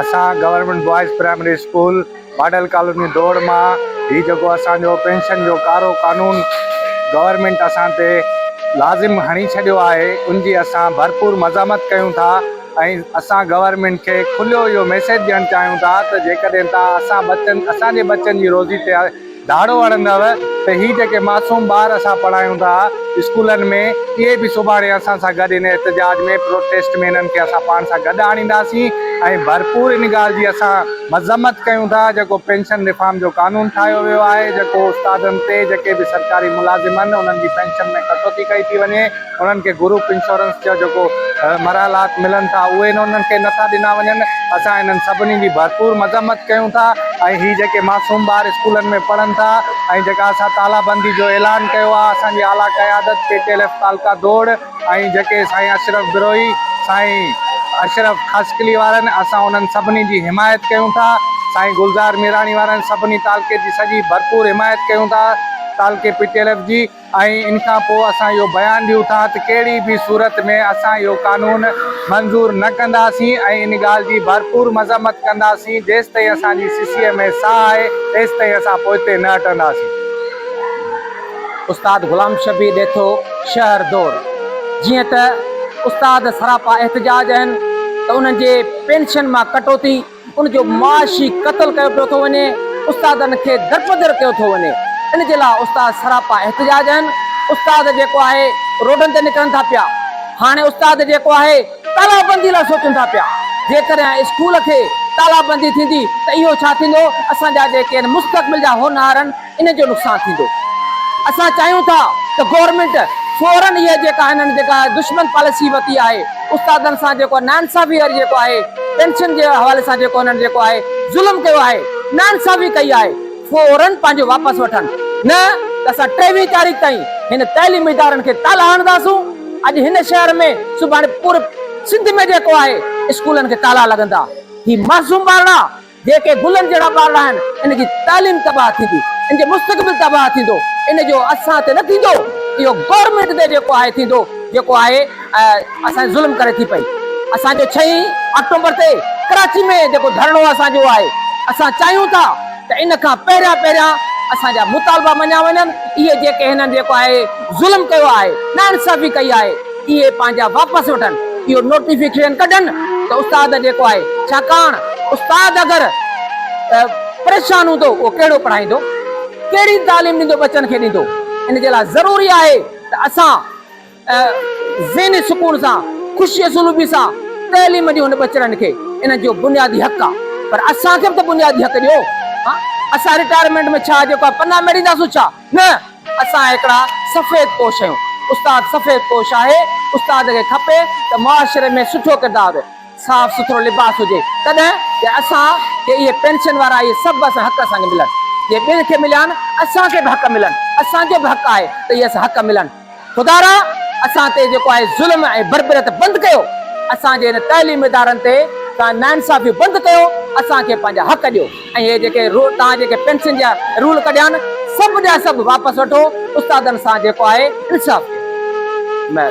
اسان government boys primary school model colony Daur مان هي جيڪو اسانجو پينشن جو ڪارو قانون گورنمينٽ اسان تي لازم هڻي ڇڏيو آهي ان جي اسان ڀرپور مزاحمت ڪيون ٿا ۽ اسان گورنمينٽ کي کليو اهو ميسيج ڏيڻ چاهيون ٿا ته جيڪڏهن تان اسان بچن اسانجي بچن جي روزي تي ڌاڙو هڻندؤ ته هي جيڪي معصوم ٻار اسان پڙهايون ٿا اسڪولن ۾ اهي به سڀاڻي اسان سان گڏ ان احتجاج ۾ پروٽيسٽ ۾ انهن کي اسان پاڻ سان گڏ آڻينداسين ۽ ڀرپور ان ڳالهه جي اسان مذمت ڪيون ٿا جيڪو پينشن ريفارم جو قانون ٺاهيو ويو آهي جيڪو استادن تي جيڪي به سرڪاري ملازم آهن انهن جي پينشن ۾ ڪٽوتي ڪئي ٿي وڃي. انهن کي گروپ انشورنس جا جيڪو مراحلات ملن ٿا اهي انهن کي نٿا ڏنا وڃن اسان انهن سڀني جي ڀرپور مذمت ڪيون ٿا ۽ هي جيڪي معصوم ٻار اسڪولن ۾ پڙهن ٿا ۽ جيڪا اسان تالابندي جو اعلان ڪيو آهي اسان جي اعليٰ قيادت پي ٽي ايل ايف تعلقه دوڙ ۽ جيڪي سائين اشرف بروهي سائين اشرف خاصخيلي وارن اسان انهن سڀني جي حمايت ڪيون ٿا سائين گلزار ميراڻي وارن سڀني تعلقي جي سڄي ڀرپور حمايت ڪيون ٿا تعلقي پي ٽي ايل ايف جي ۽ ان کان پوء اسان اهو بيان ڏيون ٿا ته ڪهڙي به صورت ۾ اسان اهو قانون منظور نه ڪنداسين ۽ ان ڳالهه جي ڀرپور مذمت ڪنداسين جيستائين اسان جي سسيء ۾ ساهه آهي تيستائين اسان پوئتي نه هٽنداسين. استاد غلام شبير ڏيٿو شهر دور جيئن ته استاد سراپا احتجاج اهن ته انهن جي پينشن مان ڪٽوتي، ان جو معاشي قتل ڪيو پيو ٿو وڃي، استادن کي درپدر ڪيو ٿو وڃي، ان جي لاء استاد سراپا احتجاج آهن، استاد جيڪو آهي روڊن تي نڪرن ٿا پيا، هاڻي استاد جيڪو آهي تالابندي لاء سوچن ٿا پيا، جيڪڏهن اسڪول کي تالابندي ٿيندي ته اهو ڇا ٿيندو، اسان جا جيڪي مستقبل جا هونهار آهن. ان جو نقصان ٿيندو اسان چاهيون ٿا ته گورنمينٽ فورن اهي جيڪا هنن جيڪا دشمن پاليسي ورتي آهي استادن سان جيڪو ناانصافي وري جيڪو آهي پينشن جي حوالي سان جيڪو هنن جيڪو آهي ظلم ڪيو آهي ناانصافي ڪئي آهي فورن پنهنجو واپس وٺن نه ته اسان ٽيويهين تاريخ تائين هن تعليمي ادارن کي تالا هڻنداسون اڄ هن شهر ۾ سڀاڻي پوري سنڌ ۾ جيڪو آهي اسڪولن کي تالا لڳندا هي معصوم ٻارڙا جيڪي گلن جهڙا ٻارڙا آهن ان جي تعليم تباهه ٿيندي ان جو مستقبل تباهه ٿيندو ان جو اسان تي نه ٿيندو اهو گورنمينٽ تي جيڪو آهي ٿيندو جيڪو آهي اسان ظلم ڪري ٿي پئي اسان جو ڇهين آڪٽومبر تي ڪراچي ۾ جيڪو ڌرڻو اسان جو آهي اسان چاهيون ٿا ته ان کان پهريان پهريان اسان جا مطالبا مڃيا وڃن اهي جيڪي هنن جيڪو آهي ظلم ڪيو آهي نا انصافي ڪئي آهي. اهي پنهنجا واپس وٺن اهو نوٽيفڪيشن ڪڍن ته استاد جيڪو آهي ڇاڪاڻ استاد اگر پريشان هوندو اهو ڪهڙو پڙهائيندو ڪهڙي تعليم ڏيندو ٻچن کي ڏيندو ان جي لاء ضروري آهي ته اسان ذهني سڪون سان خوشي اسلوبي سان تعليم ڏيون ان ٻچڙن کي انهن جو بنيادي حق آهي پر اسان کي به ته بنيادي حق ڏيو اسان رٽائرمينٽ ۾ ڇا جيڪو آهي پنا ميڙينداسون ڇا نه اسان هڪڙا سفيد پوش آهيون استاد سفيد پوش آهي استاد کي کپي ته معاشري ۾ سٺو ڪردار هجي صاف سٿرو لباس هجي تڏهن جي اسان کي اهي پينشن وارا اهي سڀ اسان حق اسان کي ملن جي ٻين کي مليا آهن اسان کي به حق ملن اسان جو به حق آهي ته اهي اسان حق ملن. خدارا اسان تي جيڪو آهي ظلم ۽ بربريت بند ڪيو اسان جي هن تعليم ادارن تي توهان ناانصافيون بند ڪيو اسان کي پنهنجا حق ڏيو ۽ هي جيڪي توهان جيڪي پينشن جا رول ڪڍيا آهن سڀ جا سڀ واپس وٺو استادن سان جيڪو آهي انصاف ڪيو.